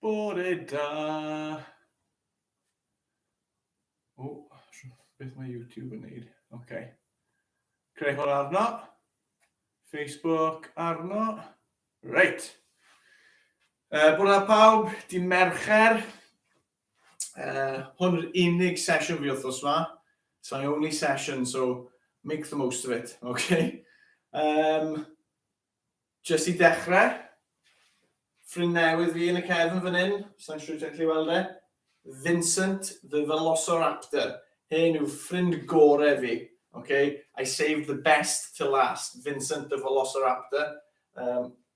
Bore da! O, beth mae YouTube yn neud? OK. Creu hwn arno. Facebook arno. Reit. Uh, Bwrna pawb, di Mercher. uh, hwn yw'r unig sesiwn fi wrthnos yma. It's my only session, so make the most of it, okay? Um, just i dechrau, ffrind newydd fi yn y cefn fan hyn, sa'n siŵr ti'n gallu weld e, Vincent the Velociraptor. Hyn yw ffrind gore fi, okay? I saved the best to last, Vincent the Velociraptor. Um,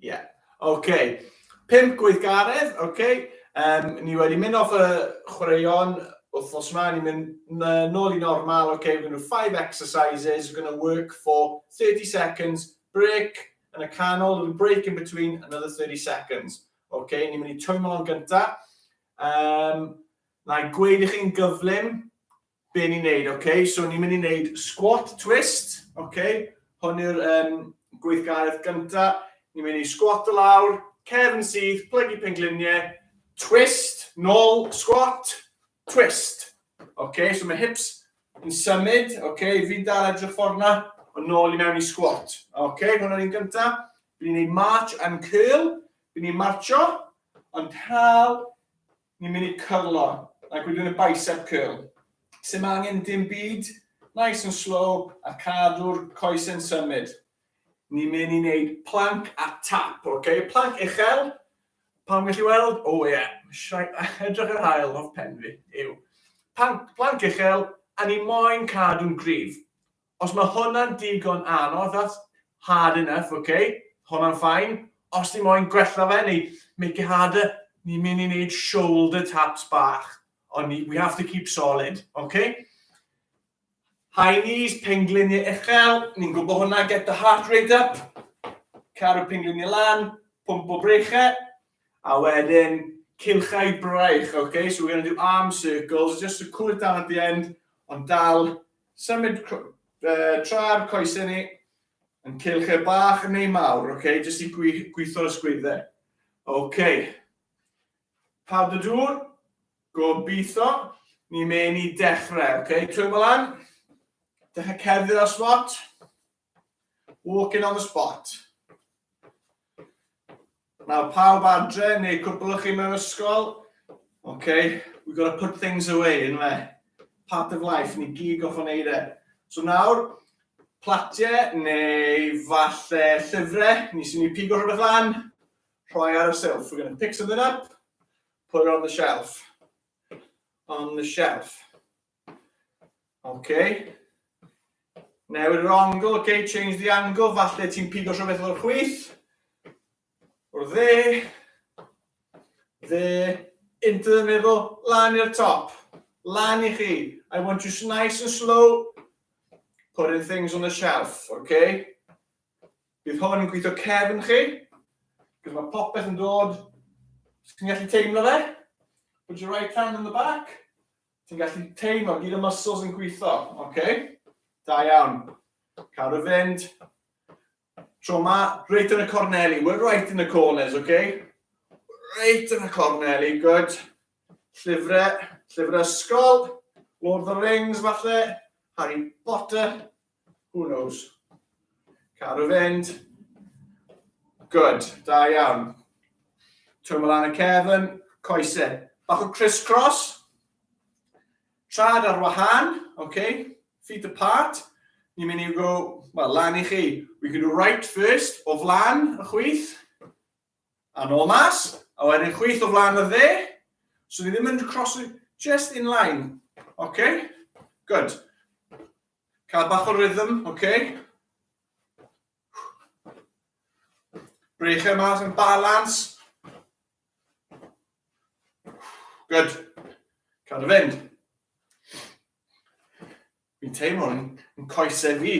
Ie, yeah. oce. Okay. Pimp gweithgaredd, oce. Okay. Um, ni wedi mynd off y chwaraeon wythnos yma, ni'n mynd nôl i normal, oce, okay, we're going to do five exercises, we're going to work for 30 seconds, break, yn y canol, little break in between, another 30 seconds. Oce, okay, ni'n mynd i twymlo'n gyntaf. Um, na i gweud i chi'n gyflym, Be ni'n neud, ok, so ni'n mynd i neud squat twist, ok, hwn yw'r um, gweithgaredd gynta, ni'n mynd i squat o lawr, cefn syth, plygu pengliniau, twist, nôl, squat, twist. Ok, so mae hips yn symud, ok, fi'n dal edrych ffordd na, o nôl i mewn i squat. Ok, hwnna'n un gynta. Fi'n ei march and curl, fi'n ei marcho, ond tal, Ni'n mynd i cyrlo, like we're doing a bicep curl. Sim angen dim byd, nice and slow a cadw'r coesau'n symud. Ni'n mynd i wneud plank a tap, ok? Plank uchel, pawb yn gallu weld? O ie, edrych ar haul, hoff pen fi yw. Plank uchel, a ni moyn cadw'n gryf. Os mae hwnna'n digon anodd, that's hard enough, ok, hwnna'n fine. Os ti moyn gwella fe neu make it harder, ni'n mynd i wneud shoulder taps bach, ond we have to keep solid, ok? High knees, pengliniau uchel, ni'n gwybod hwnna, get the heart rate up, caru pengliniau lan, pump o breichau, a wedyn cilchau braich, ok? So we're going to do arm circles, just to cool it down at the end, ond dal Symud tra'r coesau ni yn cylch e bach neu mawr, ok, jyst i gweithio'r ysgwyddau. Ok, pawb y dŵr, gobeithio, ni mewn i dechrau, ok, trwy malan, dechrau cerdded ar swat, Walking on the spot. Nawr, pawb adre, neu cwbl o chi mewn ysgol, okay, we've got to put things away, yn fe? Part of life, ni gig off o'n eire. So nawr, platiau neu falle llyfrau, ni sy'n ni pigo rhywbeth lan, rhoi ar y shelf. We're going to pick something up, put it on the shelf. On the shelf. Okay. Newid yr angle, okay, change the angle, falle ti'n pigo rhywbeth o'r chwith. O'r dde. Dde. Into the middle, lan i'r top. Lan i chi. I want you nice and slow. Putting things on the shelf, okay? Bydd hwn yn gweithio cefn chi. Bydd mae popeth yn dod. Ti'n gallu teimlo fe? Put your right hand on the back. Ti'n gallu teimlo gyd y muscles yn gweithio, oce? Okay? Da iawn. Cael y fynd. Tro ma, reit yn y corneli. We're right in the corners, oce? Okay? Reit yn y corneli, good. Llyfrau, llyfrau ysgol. Lord of the Rings, falle. Harry Potter. Who knows? Cadw fynd. Good, da iawn. Twymol lan y cefn, coesau. Bach o criss-cross. Trad ar wahan, okay? Feet apart. Ni'n mynd i go, well, lan i chi. We can do right first, o flan y chwith. A nôl mas, a wedyn chwith o flaen y dde, so ni ddim yn crosu, just in line, ok? Good. Cael bach o rhythm, ok? Breichau mas yn balans. Good. Cael dy fynd. Fi'n teimlo yn yn coesau fi.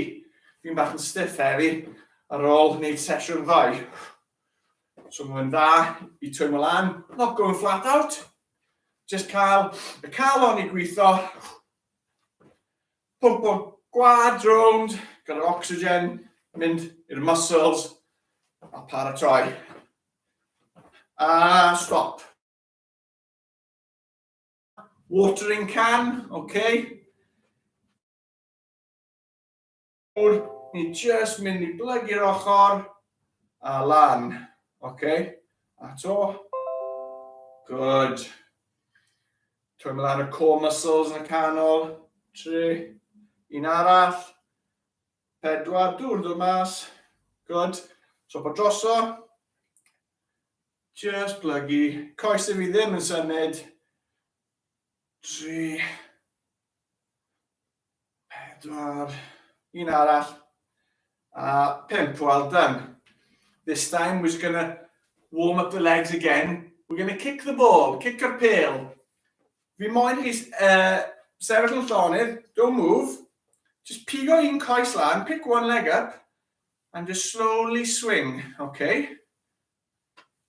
Fi'n bach yn stiff heddi ar ôl wneud sesiwn ddoe. So mae'n dda i twymo lan, not going flat out. Just cael y calon i gweithio. Pwmpo gwad rownd gyda'r oxygen, mynd i'r muscles a paratoi. A stop. Watering can, ok. Nawr, ni just mynd i blygu'r ochr a lan, ok. A to. Good. Trwy mynd ar y core muscles yn y canol. Tri. Un arall. Pedwar, dŵr dod mas. Good. So bod droso. Just plygu. Coesau fi ddim yn symud. Tri. Pedwar. Un arall. A pimp, well done. This time we're just going to warm up the legs again. We're going to kick the ball, kick a pêl. Fi moyn chi uh, sefyll yn llonydd, don't move. Just pigo un coes lan, pick one leg up. And just slowly swing, ok.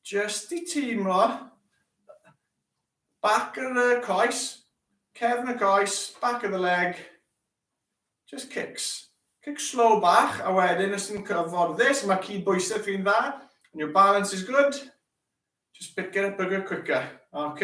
Jyst i teimlo back of the coes, cefn y coes, back of the leg, just kicks. Kick slow bach, a wedyn os ti'n cyffordd this, mae cyd bwysau chi'n dda, and your balance is good, just pick it up a bit quicker, ok?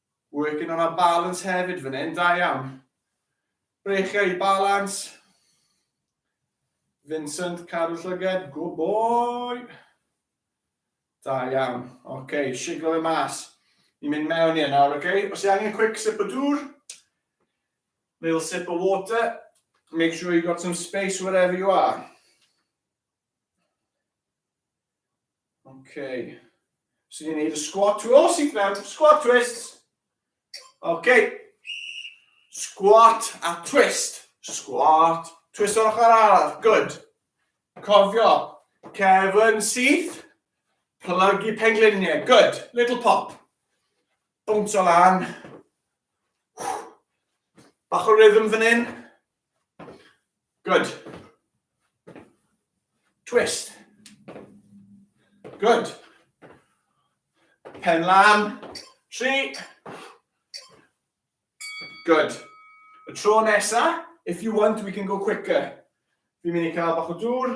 Working on our balance hefyd fan hyn, da iawn. Brechiau i balans. Vincent, cadw llyged, good boy. Da iawn. Oce, okay, siglo fe mas. Ni'n mynd mewn i nawr, oce? Okay? Os i angen quick sip o dŵr, little sip of water, make sure you got some space wherever you are. Ok. So ni'n neud y squat twist. Oh, sy'n mewn. Squat twist. Ok. Squat a twist. Squat. Twist o'r ochr arall. Good. Cofio. Cefn syth. Plygu pengliniau. Good. Little pop. Bwnt o lan. Bach o rhythm fan hyn. Good. Twist. Good. Pen lan. Tri. Good. Y tro nesa, if you want, we can go quicker. Fi'n mynd i cael bach o dŵr.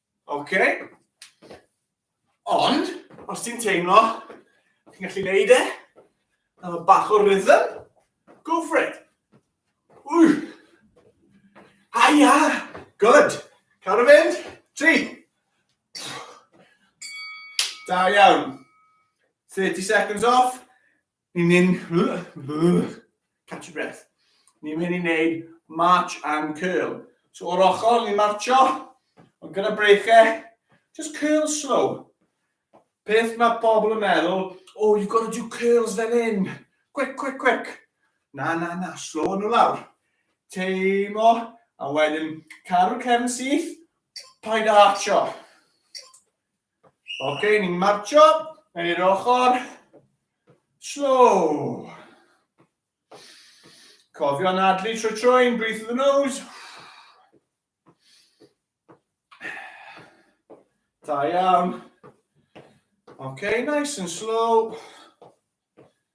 OK. Ond, os ti'n teimlo, ti'n gallu neud e, a fo bach o rhythm, go for it. Ww. Aia, good. Cael y fynd, tri. Da iawn. 30 seconds off. Ni'n mynd... Catch your breath. Ni'n mynd i wneud march and curl. So o'r ochr, ni'n marcho, ond gyda breichiau, just curl slow. Peth mae pobl yn meddwl, oh, you've got to do curls fel hyn. Quick, quick, quick. Na, na, na, slow nhw lawr. Teimo, a wedyn caru'r cefn syth, paid a archo. Ok, ni'n marcho, yn i'r ochr. Slow. Cofio nadlu trwy troi'n breathe through the nose. Da iawn. Ok, nice and slow.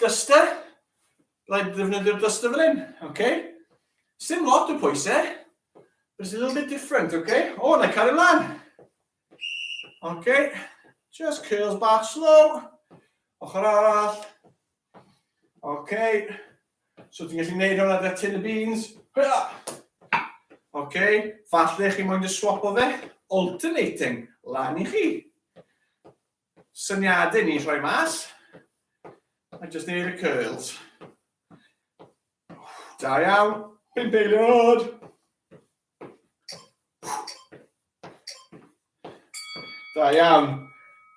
Duster, rhaid ddefnyddio'r duster fan hyn, ok? Sim lot o pwyse, but it's a little bit different, ok? O, na i cario mlaen. Ok, just curls back slow, ochr arall. Ok, so ti'n gallu gwneud hwnna da tin y beans. Ok, falle chi moyn dy swap o fe, alternating, lan i chi. Syniadau ni'n rhoi mas. A just neud y curls. Da iawn. Pump eiliad! Da iawn.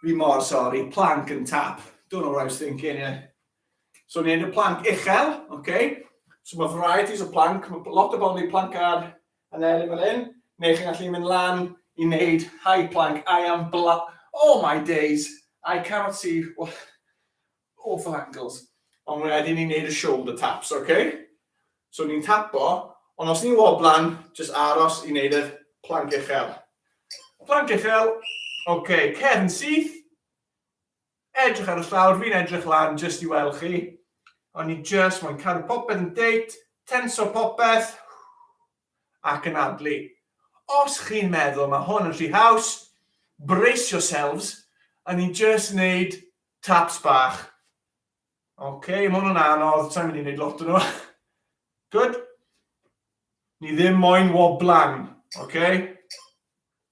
Fi mor sori, plank yn tap. Don't know what I was thinking, yeah. So ni'n neud y plank uchel, okay? So mae varieties o plank, mae lot o bobl yn neud plank ar Yn erin fan hyn, neu chi'n gallu mynd lan i wneud high plank, I am bla... Oh my days! I cannot see... Awful angles. Ond wedyn ni'n wneud y shoulder taps, ok? So ni'n tapo, ond os ni'n woblan, jyst aros i wneud y plank uchel. Plank uchel, ok, cefn syth. Edrych ar y llawr, fi'n edrych lan jyst i weld chi. O'n i jyst moyn cadw popeth yn deit, tenso popeth, ac yn adlu. Os chi'n meddwl mae hwn yn rhy haws, brace yourselves, o'n i jyst wneud taps bach. Oce, okay, mae hwnna'n anodd, sa'n mynd i wneud lot o nhw. Good. Ni ddim moyn woblan, oce? Okay?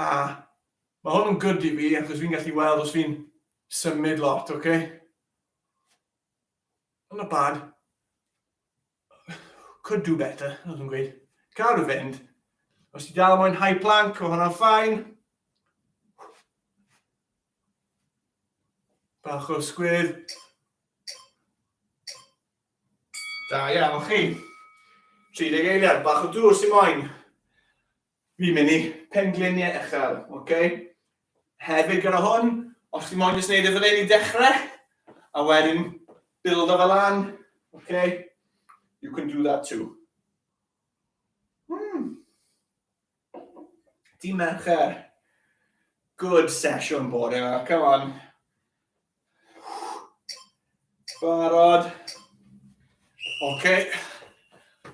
A mae hwn yn good i fi, achos fi'n gallu weld os fi'n symud lot, oce? Okay? Not bad. Could do better, oedd yn gweud. Cael rhyw fynd. Os ti dal moyn high plank, o hwnna'n ffain. Bach o sgwydd. Da iawn chi. 30 eiliad, bach o dŵr sy'n moyn. Fi'n mynd i pengliniau uchel, ok? Hefyd gyda hwn, os ti moyn jyst neud e fan hyn i dechrau, a wedyn bildo fe lan, ok? You can do that too. Hmm. Di Mercher. Good session bore yma, come on. Barod. Oce. Okay.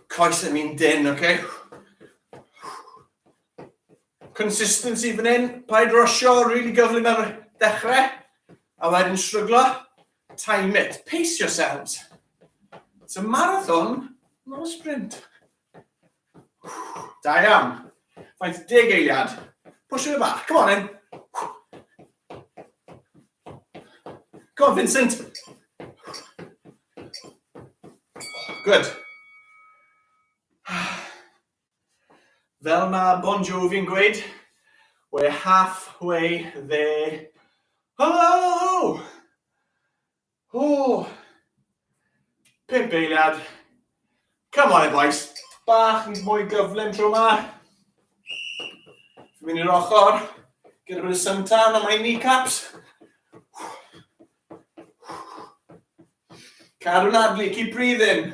Coes yn un dyn, oce. Okay. Consistency fan hyn. Paid rosio, really gyflym ar dechrau. A wedyn shryglo. Time it. Pace yourselves. It's a marathon, not a sprint. Da iawn. Faint deg eiliad. Push it back. Come on in. Come on, Vincent. Good. Fel mae Bon Jovi'n gweud, we're halfway there. Hello! Ww! Pump eiliad. Come on, boys. Bach yn mwy gyflym tro yma. Fi'n mynd i'r ochr. Gyda bod y sun tan am my kneecaps. Cadw'n adlu, keep breathing.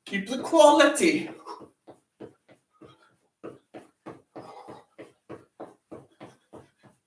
Keep the quality.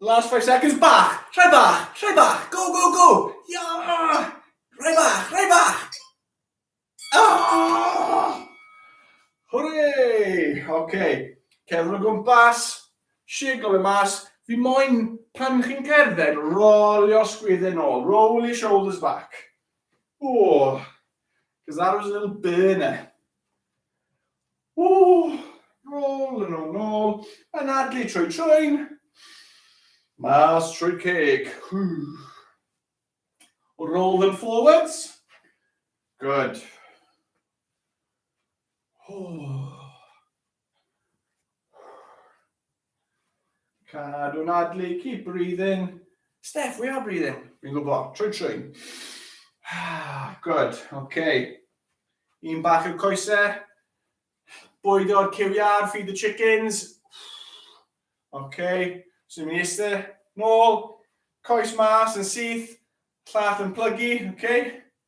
Last five seconds, bach, rhai bach, rhai bach, go, go, go! Ia! Rhai bach, rhai bach! Ah! Hwre! OK. Cerdded o gwmpas, siglo fe mas. Fi moyn, pan chi'n cerdded, rolio sgwydde nôl. Roll your shoulders back. Ww! Because that was a little burner. Ww! Rôl yn ôl nôl, anadlu trwy trwyn, mas trwy ceg. Roll them forwards. Good. Oh. Cadw nadlu, keep breathing. Steph, we are breathing. Fi'n gwybod, trwy trwy. Good, oce. Okay. Un bach i'r coesau. Bwydo'r cywiar, feed the chickens. Oce, okay. so ni'n eistedd, nôl, coes mas yn syth, llall yn plygu, oce. Okay.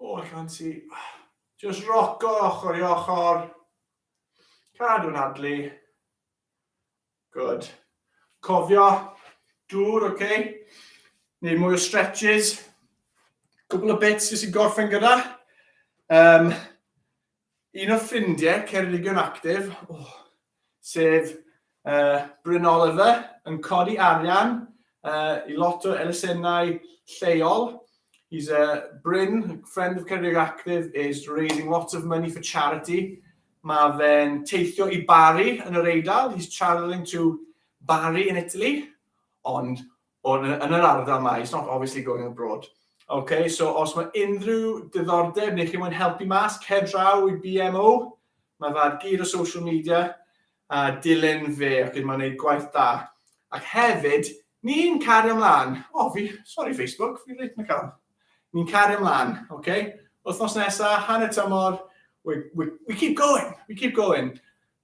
O, allan ti. Just roco ochr i ochr. Cadw'n adlu. Good. Cofio, dŵr, oce? Okay? Neu mwy o stretches. Cwbl o bits jyst i gorffen gyda. Um, Un o ffrindiau Ceredigion Actif, sef Bryn Oliver, yn codi arian i lot o elusennau lleol. He's a Bryn, friend of Ceredigion Actif, is raising lots of money for charity. Mae fe'n teithio i Bari yn yr Eidal. He's travelling to Bari in Italy. Ond O, yn, yn yr ardal mae, it's not obviously going abroad. OK, so os mae unrhyw diddordeb neu chi mwyn helpu mas, cer draw i BMO, mae fe ar gyd o social media, a dilyn fe, ac mae'n gwneud gwaith da. Ac hefyd, ni'n cario ymlaen. O, fi, sorry Facebook, fi'n reit na cael. Ni'n cario ymlaen, oce? Okay? Wythnos nesaf, hanner tymor, we, we, we keep going, we keep going.